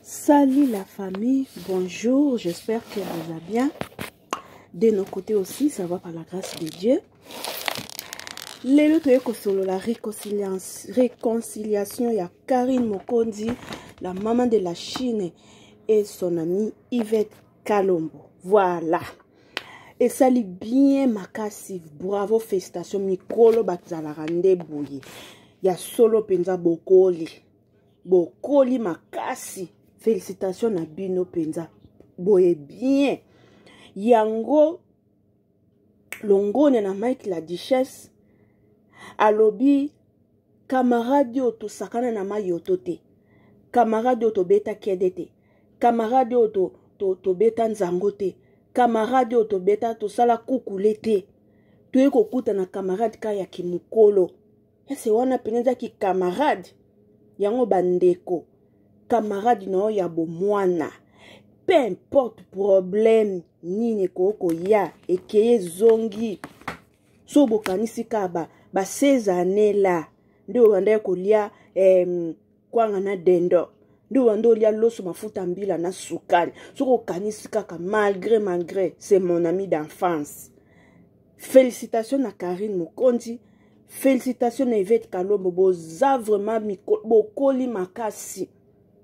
Salut la famille, bonjour, j'espère que vous allez bien. De nos côtés aussi, ça va par la grâce de Dieu. lelo toye kosolola réconciliation ya karine mokonzi la maman de la chine et son ami yvette kalombo voilà esali bien makasi bravo félicitation mikolo bazalaka nde boye ya solo mpenza bokoli bokoli makasi félicitation na bino mpenza boye bien yango longonya na mike la duchesse alobi kamarade oyo tosakana na mayoto te kamarade oyo tobeta kede te kamarade oyo to, to, tobeta nzango te kamarade oyo tobeta tosala kukule te toyei kokutana kamarade kaka ya kimokolo ese wana mpenza eza kikamarade yango bandeko kamarade na yo ya bomwana peu importe problème nini ekoki koya ekeye ezongi so bokanisi kaka ba 16 année la nde obandaki kolia eh, kwanga na dendo nde wanda olia loso mafuta mbila na sukali soki okanisi kaka malgré malgré c'est mon ami d'enfance félicitation na karine mokonzi félicitation na evete kalombo boza vraiment bokoli makasi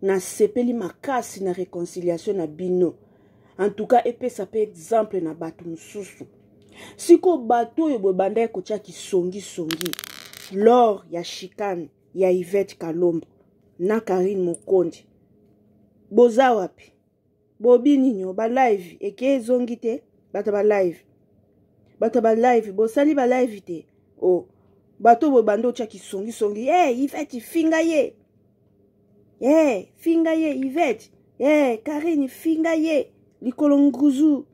nasepeli makasi na réconciliation na bino en tout cas epesa mpe exemple na bato mosusu sikoyo bato oyo bobandaki kotya kisongisongi lor ya chicane ya Yvette Kalombo na Karine Mokonji boza wapi bobi ninyo ba live eke ezongi te bato ba live bato ba live bosali ba live te o oh. bato boye banda otya kisongisongi e hey, Yvette finga ye e eh, hey, finga ye Yvette e eh, hey, Karine finga ye likolo nguzu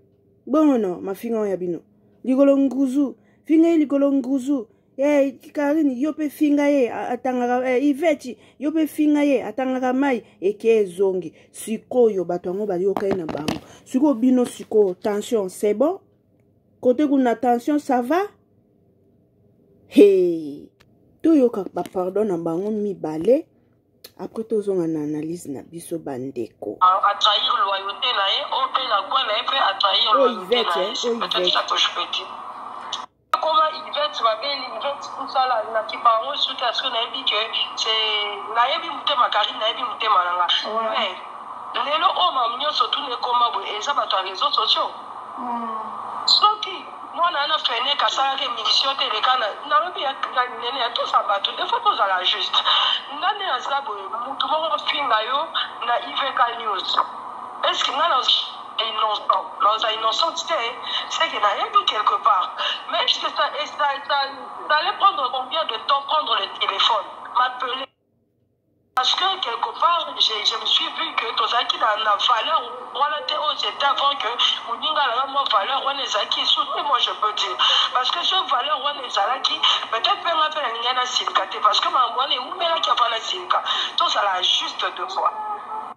bongo no mafinga oyo ya bino likolo nguzu finga ye likolo nguzu eh, karine yo mpe finga ye atangaka eh, iveti yo mpe finga ye atangaka mai eke ezongi sikoyo bato yango bayoka ye na bango sikoyo bino sikoyo tension c'est bon kote kuna tension ça va hey toyoka bapardon na bango mibale après tozonga na analyse na biso bandeko atrahir loyauté na ye oyo mpe na kwe na ye mpe atrahir loyauté na ye peut-être ça touche petit Comment il va être ma belle, il va être tout ça là, na kipa yango suite parce que nayebi que c'est nayebi mutema Karine, nayebi mutema nanga. Ouais. Mais lelo oyo mamu nyonso tuna ekoma boye eza bato ya réseaux sociaux. Mm. Soki mwana wana feneke asalaki émission te eleka nalobi ya nene ya tosa bato de fois tozala juste nga nde naza boye motu moko ofinga yo na ivk news eske nga na Innocent non aza innocente te ce que nayebi quelque part mais est ce que ça, ça, ça, ça allait prendre combien de temps prendre le téléphone m'appeler parce que quelque part je, je me suis vu que tozalaki na, na valeur wana te oyo c'était avant que moninga alaka mwa valeur wana ezalaki soutenu moi je peux dire parce que ce valeur wana ezalaki peut-être mpe nga mpe nalingai nasilika te parce que makambo wana eumelaki avant nasilika tozala juste de fois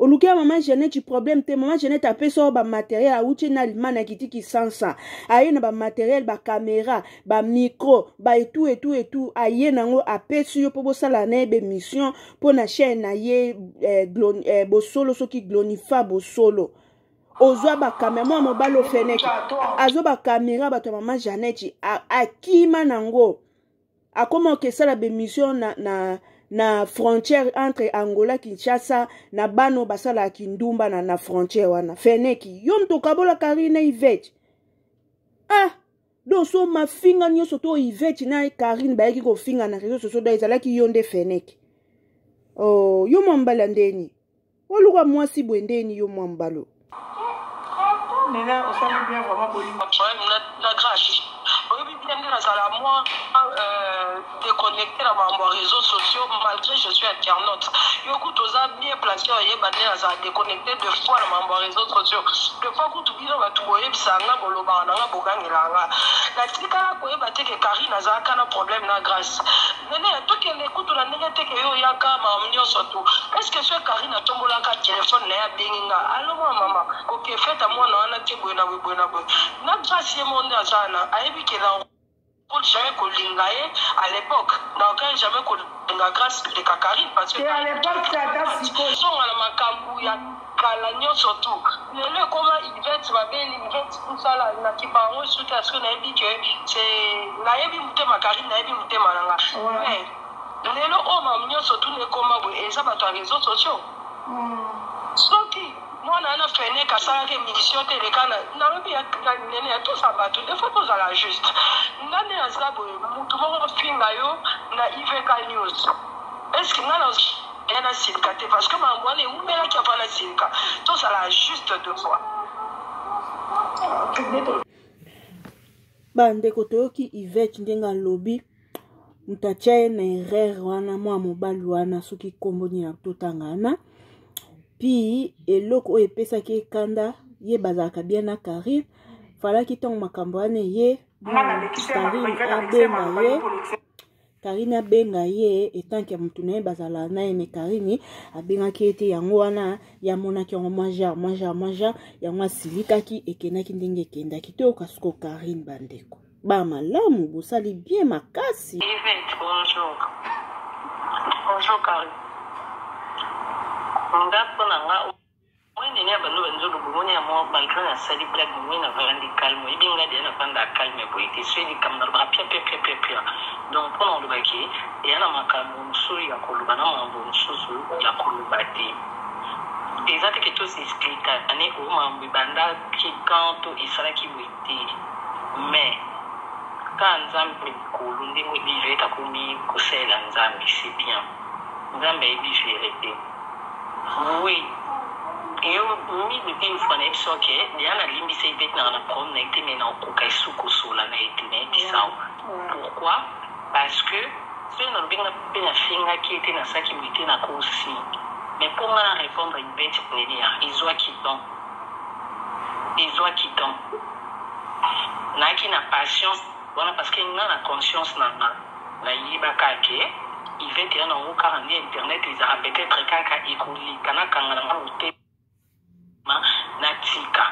oluki ya mama jeannette problème te mama jeannette apesa yo bamateriel awuti na allemagne akiti kisansa aye na bamateriel bakamera bamicro baetu etu etu aye nango apesi yo mpo bosala na ye bemission mpo na chaine na ye eh, glon, eh, bosolo soki glonifa bosolo ozwa bakamera mwana mobali ofeneki azwa bakamera bato ya mama jeannette akima nango akoma okesala bemission na, na, na frontière entre angola kinshasa na bano basalaka kindumba na, na frontière wana feneki yo moto okabola karine ivete ah donc so mafinga nyonso to ivete na karine bayaki kofinga na réseau sociaux do ezalaki yo nde feneki oh, yo mwa mbala ndeni oluka mwasi boye ndeni yo mwa mbalo nene osali bien vraiment bolingo na grace oyebi bien nde nazala mwa euh, déconnecté na makambo ya réseau sociaux malgré je suis internaute yo kutu oza bien placé oyeba nde nazala déconnecté de fois na makambo ya réseau sociaux de fois kutu bino bato boyebisa nga bolobaka na nga bogangela nga natikala koyeba te ke karine azalaka na problème na grace Nene tokende kutu na ndenge te ke yo oyaka mawa nyonso tu. Est-ce que soki Carine atombolaka telephone na ye abengi nga allo mwa mama oke fete mwana wana te boye na boye boye na boye. Na Grace ye moko nde aza wana ayebi ke na Cool jamais kolinga ye à l'époque na aucun jamais kolinga Grace leka Carine parce que Te à l'époque te ata sikoyo. zonga na makambu ya kala nioso tu lelo ekoma yvette babeli yvette musala na kipa yango esuki ya soki nayebi ke se nayebi motema carine nayebi motema na nga me lelo oyo mam nioso tu nekoma boye eza bato ya reseau sociaux soki mwana wana feneke asalaki emission te eleka na nalobi ya ya nene ya tosa bato de fois tozala juste nga nde naza boye motu moko ofinga yo na ivk news eske nga na Bien na silika te parce que makambo wana ewumelaki avant na silika. Tozala juste deux fois. bandeko toyoki ivete ndenge alobi moto atya ye na erreur wana mwa mobali wana soki nkombo nini ya totanga wana pi eloko oyo epesaki ekanda ye bazalaka bien na carine falaki ntango makambo wana eye carine abenga ye Karine abenga ye etanke ya motu na ye bazala na ye me Karine abengaki ye te yango wana ye amonaki yango mwa genre mwa genre mwa genre yango asilikaki ekendaki ndenge ekendaki toyoka siko Karine bandeko ba malamu bosali bien makasi bonjour bonjour Karine nga mpo na nga Mwende ne bando banzo lobomo ne amo malgré na sali blague mwe na vandi calme ebi nga de na vanda calme boye te soyi likambo na lobaka pia pia pia pia pia donc mpo na oloba ke eya na makambo mosusu ya koloba na makambo mosusu ya koloba te eza te ke tous explique ane o makambo ebandaki quand to esalaki boye te mais kaka nzambe likolo ndenge oyebi verite akomi kosalela nzambe c'est bien nzambe ayebi verite Oui yo mise pe mfuana na biso ok deja na limbisa ye bete nanga na problème na ye te mais na okoka esu kosola na ye te na yebisa yo pourquoi parce que soki na lobi nga pe na fingaki ye te na saki boye te na ko si mais po nga na répondre bete nelia ezua ki temps ezua ki temps nayaki na patience wana parce que nga na conscience na nga Na yebaka ke Yvette ya na ngo kaka nde internet ezaka peut etre kaka ekoleka na kanga na nga motema na tika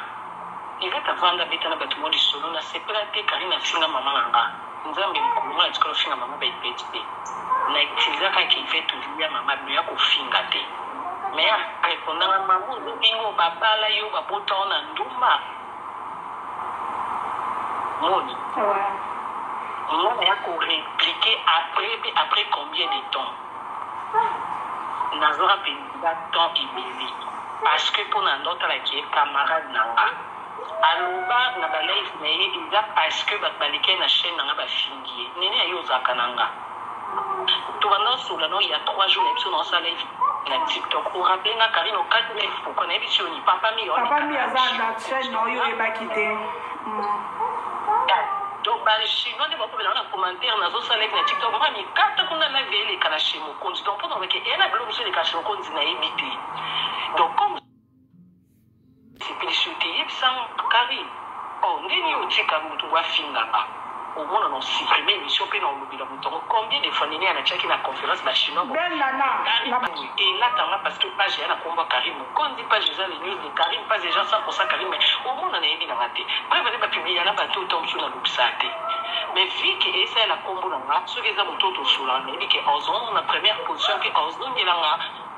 Yvette avanda beta na batu mwa lisolo na sepela te Carine afinga maman na nga nzambe mokolo mwa na tikala ofinga maman ba Yvette te na utiliza kaka Yvette olia maman bino ya kofinga te mais a repondanga maman olobi ngo ba bala yo ba bota yo na ndumba Moni. Ouais. Moni ya ko repliquer après pe après combien de temps? Ah. Nazora pe ba temps ebele. Parce que pour na nota la qui est camarade na nga. aloba na balive na ye eza parce que bato baleki ye na chaine na nga bafingi ye nini aye ozalaka na nga Tobanda osola no ya trois jours na biso na osala live na TikTok. O rappeler nga Karine o kat me pourquoi na biso ni papa mi. Papa mi aza na chaîne no yo e baki te. Donc ba chinois de bako na commentaire na zo sala live na TikTok. Mama mi kat ko na live ele kana chez Mokonzi. Donc pour donc e na blog sur le chez Mokonzi na ebite. Donc comme Sepelisi yo te yebisa nga Carine oh ndenge nini otika mutu ngo afinga nga omona na supprimer emission pe na olobela mutu yango combien de fois neneya na tiaki na conference ba chinois bo Belle Nana, Carine na- Page elata nga parce que page ya na kombo ya Carine Mokonzi page eza les news de Carine page eza 100% Carine mais omona na yebi na nga te preuve nde ba publier na bato oyo mosusu na lobisa te mais vu que esa ya na kombo na nga soki eza moto oyo tosola na yebi que ozomona première position que ozongela nga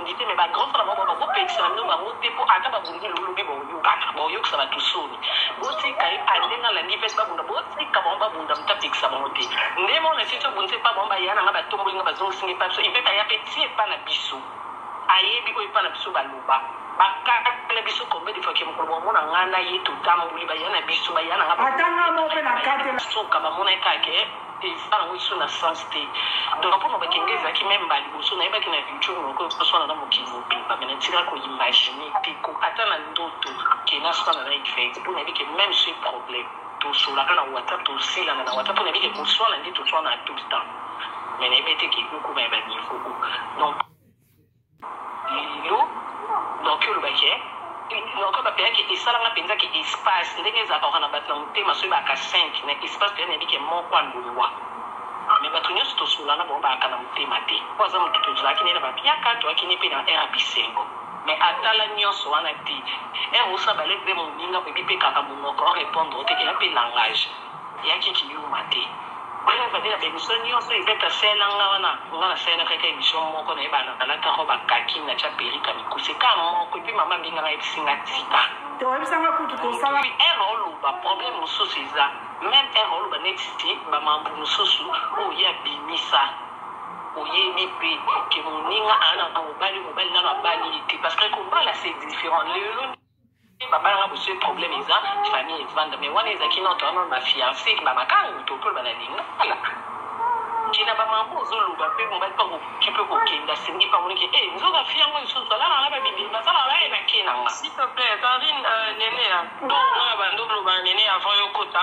Ngi te mais ba grand frère na bango bazo pekisa na bino bango te po ata ba bundeli bo lobi bao yokana bao yokisa batu soni bo tika ye ale nga landi pesi ba bunda bo tika bango ba bunda muta pekisa bango te nde mona sisi to bundisa epa bango ba ya na nga ba tomboli nga ba zongisi nga epa biso il peut aya pe ti epa na biso ayebi oyo epa na biso ba loba ba kata na biso combien de fois ke mukolo ba mona nga na ye to tamboli ba ya na biso ba ya na nga ba ata nga mo pe na kata suka ba mona ye kake President yango lisusu na sens te donc mpo maloba kenge ezalaki meme ba liboso nayebaki na culture moko ekoswana na mokili mobimba mais natika ko imagine te ko ata na ndoto ke naswana na Yvette mpo nayebi ke meme ce problème tosolaka na WhatsApp tosilana na WhatsApp mpo nayebi ke koswana nde toswana tout le temps mais nayebi te ke ekokoma ya ba niveau donc Lelo naoki oloba ke naoki oloba mpenza ke esalanga mpenza ke espace ndenge ezalaka kaka na bato na motema soki bayaka 5 na espace mpenza nayebi ke moko alongwa mais bato nyonso tosolola na bango bayaka na motema te mpo aza moto tozalaki na ye na ba mpiaka toyaki na ye mpe na heure ya bisengo mais atala nyonso wana te heure osala ba lettre mpe moninga oyebi mpe kaka monoko orepondre yo te ke ya mpe langage Eyaki ki yuma te. Bref ba bina ba emission nioso Yvette asela nga wana nga na sela kaka emission moko na ye ba lata robe ya kaki na tia perruque ya mikuse ka moko epuis maman mbinga nga ayebisi nga tika Te oyebisa nga kutu tosala. Epuis heure oloba problème mususu eza meme heure oloba neti ba mambu mususu oyo ye abimisa oyebi pe ke moninga aza na mobali mobali nanu abali ye te parce que kobala c'est different lelo papa nanga bosi problème eza famille evanda mais wana ezalaki noto wana ba fiancé ba makangu tokolo bana lingala kina ba mambo ozoloba mpe mobali mpe akoki mpe kokenda asengi mpe amoniki e nzoka fi yango lisusu alala na babibeli bazala baye na ke nanga s'il te plaît carine euh, nene ya donc nga bando olobana nene avant yo kota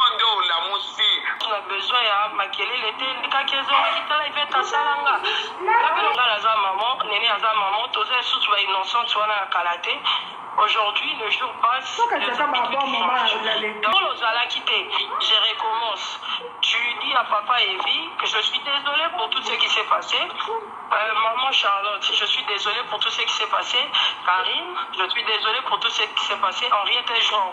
Yo nde olamusi. Na besoin ya makelele te ndikaki ezongaki tala ivete asala nga ngabelo ngala aza maman nene aza maman toza lisusu ba innocente wana ya kala te aujourd'hui le jour passe Soki ataka ba bon moment azali. Paul ozalaki te je recommence tu dis à papa Evi que je suis désolé pour tout ce qui s'est passé euh, maman Charlotte je suis désolé pour tout ce qui s'est passé Karine je suis désolé pour tout ce qui s'est passé Henriette et Jean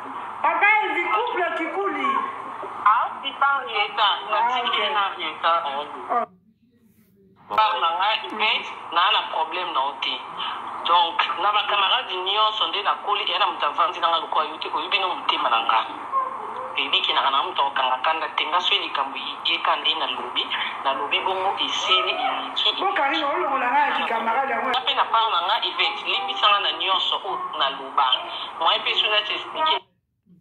Papa Elvi couple kikuli. Ah, si par Rieta, na ah, okay. na Rieta. Oh. Par na nga ibe na na problème na ote. Donc na ba camarades nyonso nde na koli et na moto avandi na nga lokola yo te oyebi no motema na nga. ebiki na kana moto akokanga kanda te nga soki likambo yeka nde nalobi nalobi bongo esili eliki mpe na part na nga evete limbisanga na nyonso oyo nalobi Ba moyen pe soki nati expliquer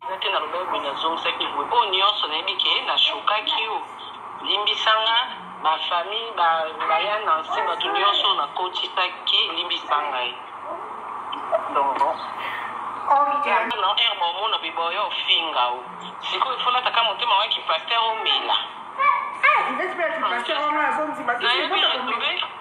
eza te nalobaki boye nazongisaki boye oyo nyonso nayebi ke nashokaki yo limbisa nga ba famille ba baya na nse bato nyonso nakotisaki limbisa ngai donc na heure baomona biboya ofinga o sikoyo efolataka motema wa kipaster omela nayebi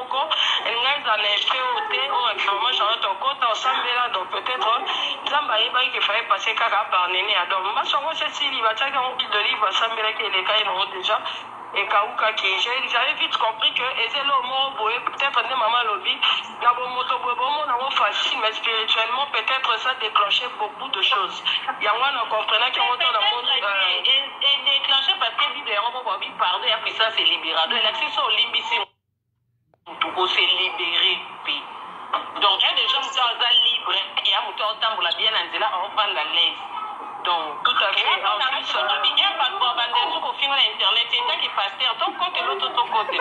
moko elinga ezala na effet oyo te oyo actuellement charlotte okota osambela donc peut-être nzambe ayebaki ke faye passe kaka aparnene ya donc mbasi yango se sili batiaki yango huile d'olive basambelaki eleka ye nango déjà ekawukaki j'avais vite compris que eza eloko moko boye peut-être nde mama alobi na bomoto boye bomona yango facile mais spirituellement peut-être ça déclenche beaucoup de choses yango wana comprenaki yango to na moni euh, edeclenche parce que bible yango moko abi pardon ya puissance elibirado elakisi so olimbisi moto ko se libere mpe donc ya deja moto aza libre ya moto aotambola bien na nzela aovanda laise donc tout à fait soki bien bato babanda esu kofinga na internet etaki paster tokote loto tokote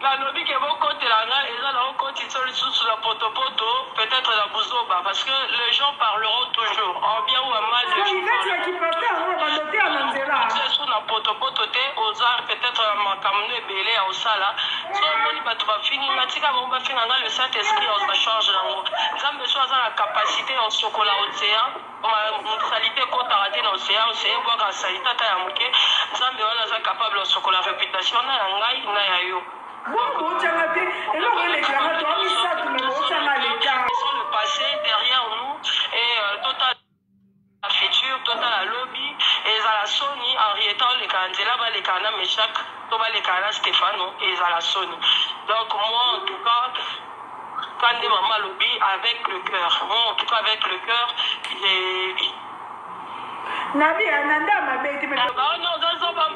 Na lobi que bo kotela nga eza na o kotiso lisusu na poto poto peut etre na buzoba parce que les gens parleront toujours en bien ou en mal les gens parleront toujours na poto poto te oza peut etre na makambo no ebele ya osala so omoni bato bafingi nga tika bango bafinga nga le saint esprit ozwa charge na ngo nzambe so aza na capacité ya osokola ocean salite ekotaka te na ocean ocean ebwaka salite ata ya moke nzambe wana aza capable osokola reputation na ya ngai na ya yo botyanga te eloko elekelanga to amisatu me botyanga leta le passé derrière nous et euh, total la future totala lobi ezala soni henrieta oleka nzela baleka na meshak to baleka na stefano ezala soni donc moi en tout cas Ka nde mama alobi avec le cœur. Moi, en tout cas, avec le cœur, j'ai. Nabi, ananda hein, mabe te. Ah, bah, non, dans son bam.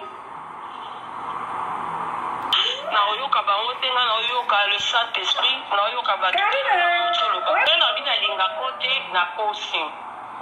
naoyoka bango te nga naoyoka le saint esprit naoyoka bato te nabi nalinga ko te nakosi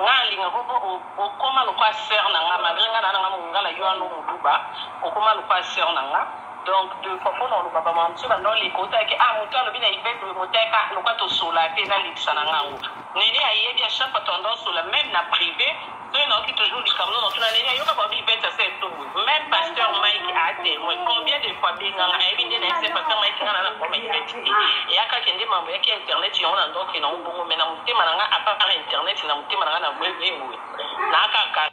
nga alinga ko po okoma lokwa sere na nga malgre nga na nanga mongala yo ano moluba okoma lokwa sere na nga Donc deux fois pona oloba ba mam's banda oleka otala ke ah mutu alobi na Yvette boye moteka ah lokola tosola te nalekisa na nga ngo Nene ayebi a chaque fois tanda osola meme na prive soki nayoki toujours likambo no natuna Nene ayoka ba Yvette asa etumbu meme pasteur Mike a temoin combien de fois benganga ayebi nde nayebisa pasteur Mike nga nana koma Yvette te eyaka kende mambo yaki internet yango na ndoke na obongo me na motema na nga apart internet na motema na nga na boye boye boye nakaka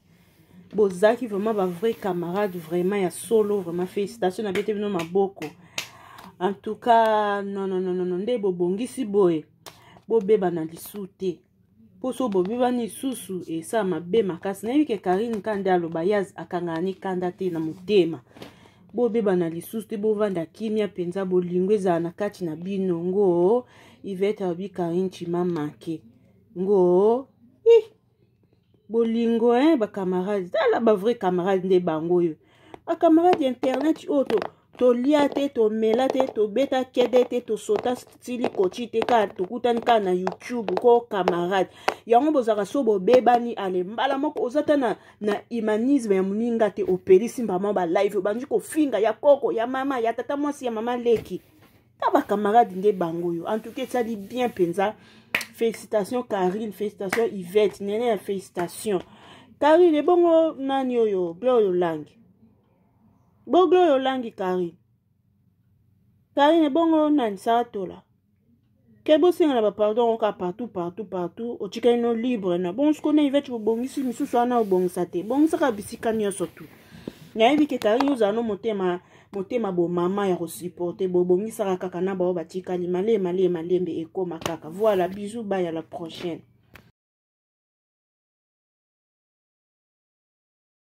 bozalaki vraiment ba vrai camarade vraiment ya solo vraiment félicitation na bete bino maboko en tout cas non non non non nde bobongisi boye bobebana lisu te mpo so bobebani lisusu esala mabe makasi nayebi ke karine ka nde aloba ye akangana ni kanda te na motema bobebana lisusu te bovanda kimia mpenza bolingo ezala na kati na bino ngoo ivete alobi karine chima make ngoo ih bolingo hein ba camarade tala ba vrai camarade nde bango oyo ba camarade ya internet oyo to tolia te tomela te tobeta kede te tosota stili koci te kaka tokutani kaka na youtube ko camarade yango bozalaka so bobebani ale mbala moko oza ta na, na humanisme ya moninga te opelisi mbama ba live obandi kofinga ya koko ya mama ya tata mwasi ya mama leki ta ba camarade nde bango oyo en tout cas esali bien mpenza félicitation carine félicitation ivette nene ya félicitation carine ebongo nani oyo gloire olangi bo gloire olangi carine carine ebongo nani saratola ke bosengana bapardon yango kaka partout partout partout otikali no libre na bongo sikoyo na ivete bobongisi misusu wana obongisa te bongisaka bisika nyonso tu nayebi ke carine ozala no motema motema bo mama ya kosuporte bobongisaka kaka na bao batikali malee malee malembe ekoma kaka voilà bisous baya la prochaine